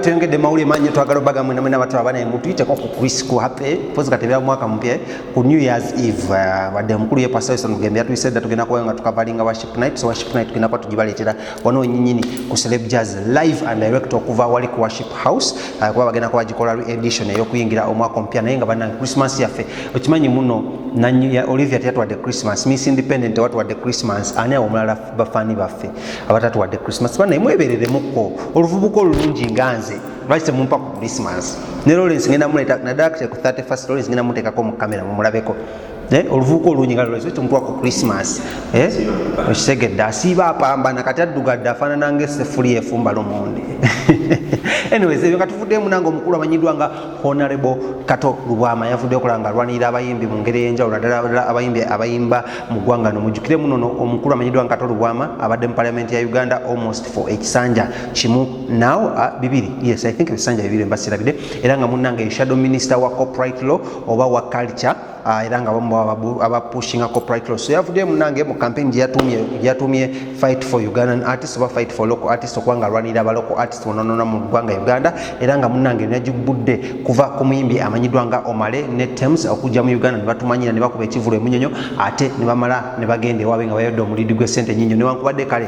Tengede mauli manyi twagala baga mwe namwe nabatu abana emutu ite koko Chris ku happy pozi katebya mwaka mpye ku New Year's Eve uh, wade mkulu ye pastor sanu gembya tu said tugena kwa nga tukavalinga worship night so worship night kina kwa tujibaletera wano nyinyini ku celeb jazz live and direct okuva wali ku worship house uh, kwa bagena kwa jikola re edition yo kuingira omwaka mpya naye nga bana Christmas ya fe okimanyi muno na Olivia tetwa de Christmas Miss Independent watu wa de Christmas ane omulala bafaani baffe abatatuwadde christmas banaye mwebereremukko oluvubuka olulungi nga nze lwaki temumpa ku christmas ne lawrence ngenda muleta naddala kte ku 31 lawrence ngenda mutekako mu kamera mumulabeko eh, oluvubuka olungi nga lawrence temutuwa ku christmas eh, okitegedde asiiba apambana kati addugadde afaanana nga esefuli efumba lomondi anyways ebyo nga tuvuddemu nange omukulu amanyiddwa nga Honorable Kato Lubwama yavudde okola nga alwanirira abayimbi mu ngeri ey'enjawulo naddala abayimbi abayimba mu ggwanga no mujjukire muno no omukulu amanyiddwa nga Kato Lubwama abadde mu parliament ya Uganda almost for ekisanja kimu now uh, bibiri yes I think ebisanja bibiri mbasirabide era nga munnange shadow minister wa copyright law oba wa culture Ah, era nga bamu abapushinga copyright law so yavuddeyo munange mu campaign gyeyatumye fight for ugandan artist oba fight for local artist okuba nga alwanirira abalocal artist bononona mu ggwanga uganda era nga munange nagibbudde kuva ku muyimbi amanyiddwa nga omale ne tems okujja mu uganda ne batumanyira ne bakuba ekivulu emunyonyo ate ne bamala ne bagenda ewaabwe nga bayodde omulidi gw'essente nyinyo newankubadde kale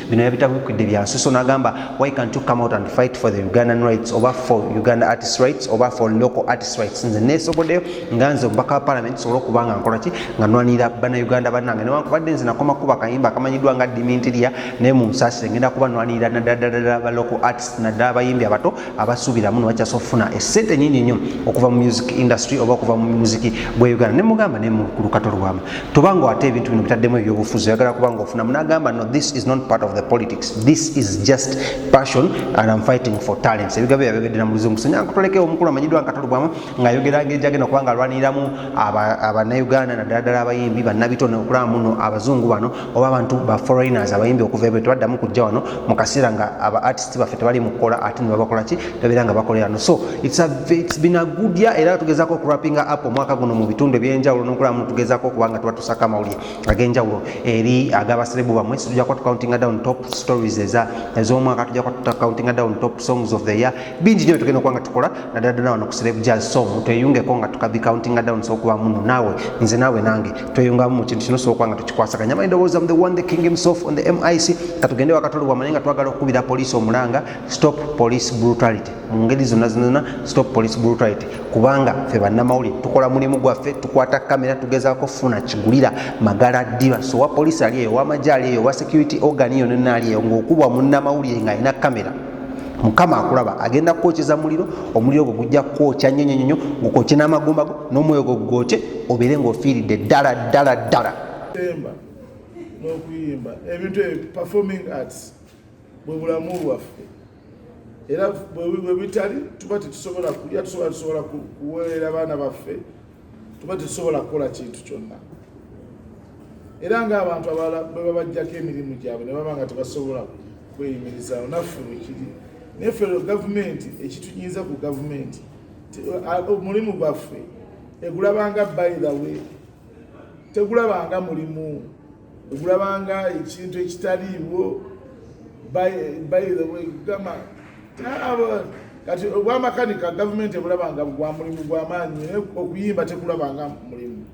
bino yabitabukidde bya nsuso nagamba why can't you come out and fight for the ugandan rights oba for uganda artist rights oba for local artist rights nze nesobodeyo nga nze omubaka wa parliament sobola okuba nga nkolaki nga nwanira bana uganda banange newankubadde nze nakoma kuba kayimba akamanyiddwa nga dimintiria naye mu nsaasire ngenda kuba nwanirira naddala ba local artist naddala abayimbi abato abasuubiramu nebakyasobola okufuna esente nyingi nnyo okuva mu music industry oba okuva mu muziki gwa uganda nemugamba naye lukato lwama tobanga ate ebintu bino bitaddemu ebyobufuzi oyagala kubanga ofunamu nagamba no this is not part of the politics this is just passion and am fighting for talents ebigabo yabyogedde na mulizi omusenyankutolekewo omukulu amanyidwa nkato lwama ng'ayogera ngeri gyagenda okuba nga alwaniriramu abanauganda naddala ddala abayimbi bannabitone okulaba muno abazungu bano oba abantu ba foreigners abayimbi okuva ebyo tebaddamu kujja wano mu kaseera nga aba artist baffe tebali mu kukola ate ne babakola ki babeera nga bakolera no so it's, a, it's been a good year era tugezaako okurapinga up omwaka guno mu bitundu ebyenjawulo n'okulaba muno tugezaako okuba nga tubatusako amawulire ag'enjawulo eri ag'abaserebu bamwe situja kuba tucountinga down top stories ez'omwaka tuja kuba tucountinga down top songs of the year bingi nyo byetugenda okuba nga tukola naddala ddala wano ku slave jazz so tweyungeko nga tukabi countinga down sokuba muno naawe nze naawe nange tweyungamu mu kintu kino sokuba nga tukikwasaganya manyi ndowooza mu the one the king himself on the mic katugende wakatolo wamanye nga twagala okukubira poliisi omulanga stop police brutality mu ngeri zonna zonna stop police brutality kubanga ffe bannamawulire tukola mulimu gwaffe tukwata kamera tugezaako funa kigulira magala ddiba so wa poliisi ali eyo wamagye ali eyo wa security organ yonona ali eyo ng'okubwa munnamawulire ng'alina kamera mukama akulaba agenda kukwokyeza muliro omuliro gwo gujja kukwokya nnyo nyo nyo gukokye n'amagumba go n'omwoyo gwo gugwokye obeere ng'ofiiridde ddala ddala ddala n'okuyimba ebintu ebyo performing arts bwe bulamu bwaffe era bwe bitali tuba tetusobola kulya tusobola tusobola kuweerera baana baffe tuba tetusobola kukola kintu kyonna era ng'abantu abalala bwe babajjako emirimu gyabwe ne baba nga tebasobola kweyimirizaawo naffe wekiri naye ffe gavumenti ekitunyiiza ku gavumenti omulimu gwaffe egulabanga by the way tegulabanga mulimu okulabanga ekintu ekitaliiwo kugamba kati obwamakanika gavumenti ebulabanga gwa mulimu gwamaanyi naye okuyimba tekulabanga mulimu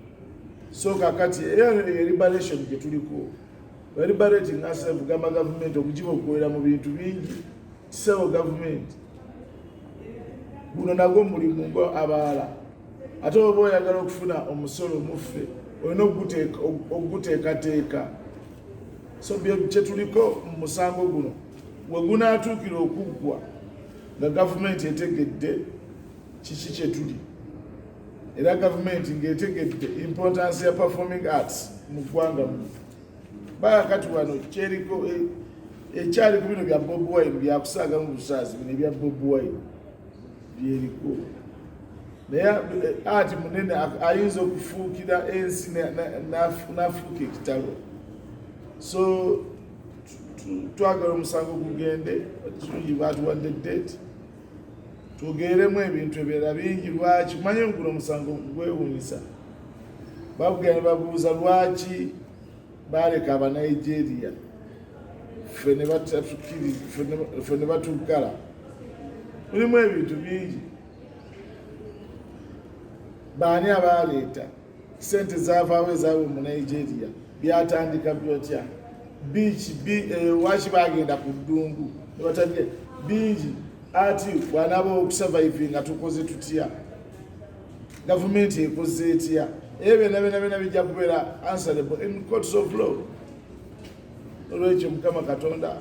so kakati eliberation gyetuliko eliberating asef gamba gavumenti okugiba okukolera mu bintu bingi kisewo gavumenti guno nagwo mulimu ngo abaala ate oba oyagala okufuna omusolo muffe olina okuguteekateeka so kyetuliko mu musango guno wegunaatuukira okuggwa nga gavumenti etegedde kiki kyetuli era gavumenti ngaetegedde importance ya performing arts mu ggwanga mu baa kati wano kyeriko eh, ekyali ku bino bya bob wine byakusaaga mu busaazi bino ebya bob wine byebikulu naye eh, ati munene ayinza okufuukira ensi n'afuuka ekitalo so twagala omusango gugende batuwadde date twogeremu ebintu ebirala bingi lwaki kumanye guno omusango gwewunyisa babugenda babuuza lwaki baaleka abanigeria ffe ne batuggala mulimu ebintu bingi baani abaaleeta sente zavaawo ezaawe mu nigeria byatandika byotya biiki eh, waki bagenda ku ddungu nebatandika bingi ati bwanaba okusavaivinga tukoze tutya gavumenti ekoze etya ebyo byona byona byona bijja kubeera answerable in courts of law olwekyo mukama katonda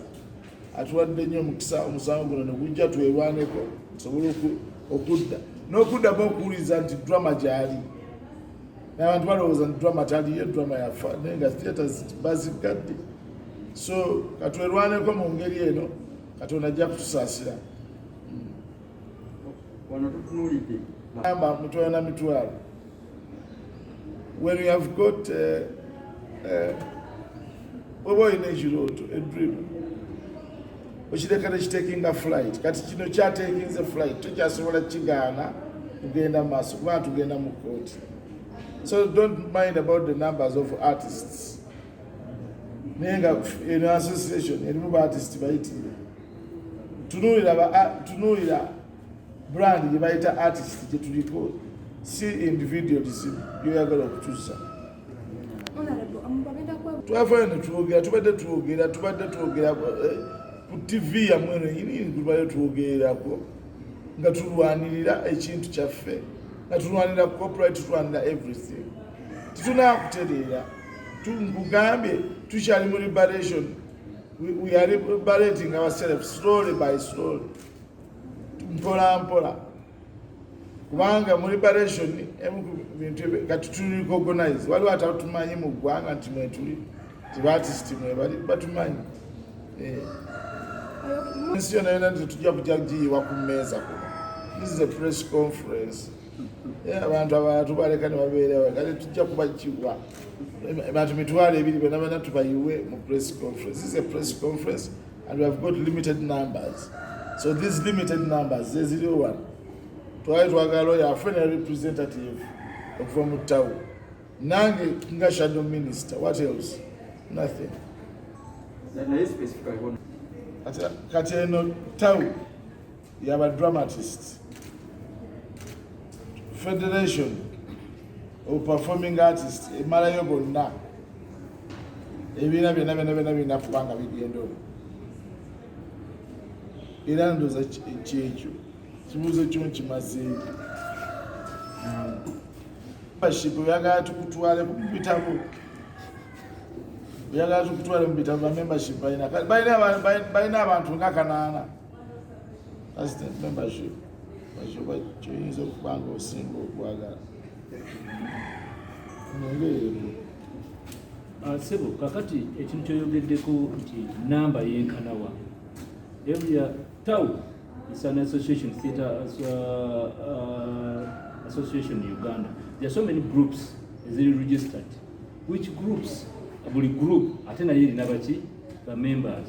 atuwadde nnyo omukisa omusango guno negujja twelwaneko tusobole okudda n'okuddamu okuwuliriza nti drama gyali nabantu balowooza nti drama taliyo drama yafa naye nga theatres bazigadde so katwerwaneko mu ngeri eno katonda ajja kutusaasira wano tutunulidde amba mitwalo na mitwalo when you have got eh, eh, oba olina ekirooto edream okireka nekitekinga flight kati kino kyatekinze flight tokyasobola kigaana kugenda maaso kubanga tugenda mu kooti so don't mind about the numbers of artists naye nga eno association erimu baartisti bayitire tunuulira tunuulira brand gye bayita artist gye tuliko si individual dizimu yoyagala okukyusa twafana netwogera tubadde twogera tubadde twogera eh, ku tv yamwe nenyini tubadde twogererako nga tulwanirira ekintu kyaffe nga tulwanira copyright tulwanira everything titunakutereera nkugambye tukyali mu liberation We, we are liberating ourselves slowly by slowly, mpola mpola, kubanga mu liberation emu ku bintu kati tuli recognize, waliwo atatumanyi mu ggwanga nti mwetuli nti batisiti mwebali batumanyi eh. ensi yona yona nti tujja kujagiyiwa ku mmeeza kuno. This is a press conference. Eh, abantu abalala tubaleka nebabeerawe kale tujja kubakiwa bantu mitwalo ebiri bena bena tubayiwe mu press conference this is a press conference and we have got limited numbers so these limited numbers zeziriwo wano twali twagala oyo afe ne representative okuva mu town nange nga shadow minister what else nothing kati eno town yaba dramatist federation of performing artist emalayo gonna ebiina byona byona byona birina kuba nga bigenda omu era ndoza kyekyo kibuuzo kyo nkimazeeyo baship oyagala tukutwale mubitabo oyagala tukutwale mubitabo bamembership balina balina abantu nga kanaana Assistant membership bakiba kyoyinza okuba nga osinga okwagala nongeeremu ah, sebo kakati ekintu kyoyogeddeko nti namba yenkanawa every town is an association theatre as, uh, uh, association in uganda there are so many groups eziri registered which groups buli group ate naye erina baki bamembers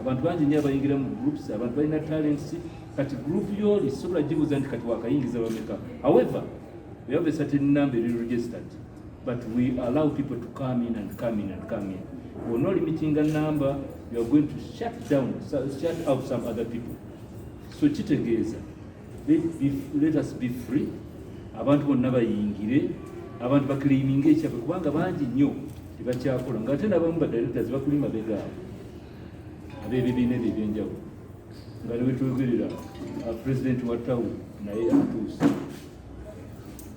abantu bangi nyo abayingira mu groups abantu balina talents kati group yoli sobola gibuza nti kati wakayingiza bameka however we have a certain number eri registered but we allow people to come in and come in and come in we're not limiting a number you are going to shut down shut out some other people so kitegeeza Let us be free. Abantu bonna bayingire, abantu bakiliiminga ekyabwe kubanga bangi nnyo tebakyakola nga ate nabamu badirectors bakuli mabega abo abebibiina ebyo ebyenjawulo nga newetwogerera uh, president wa town naye atuuse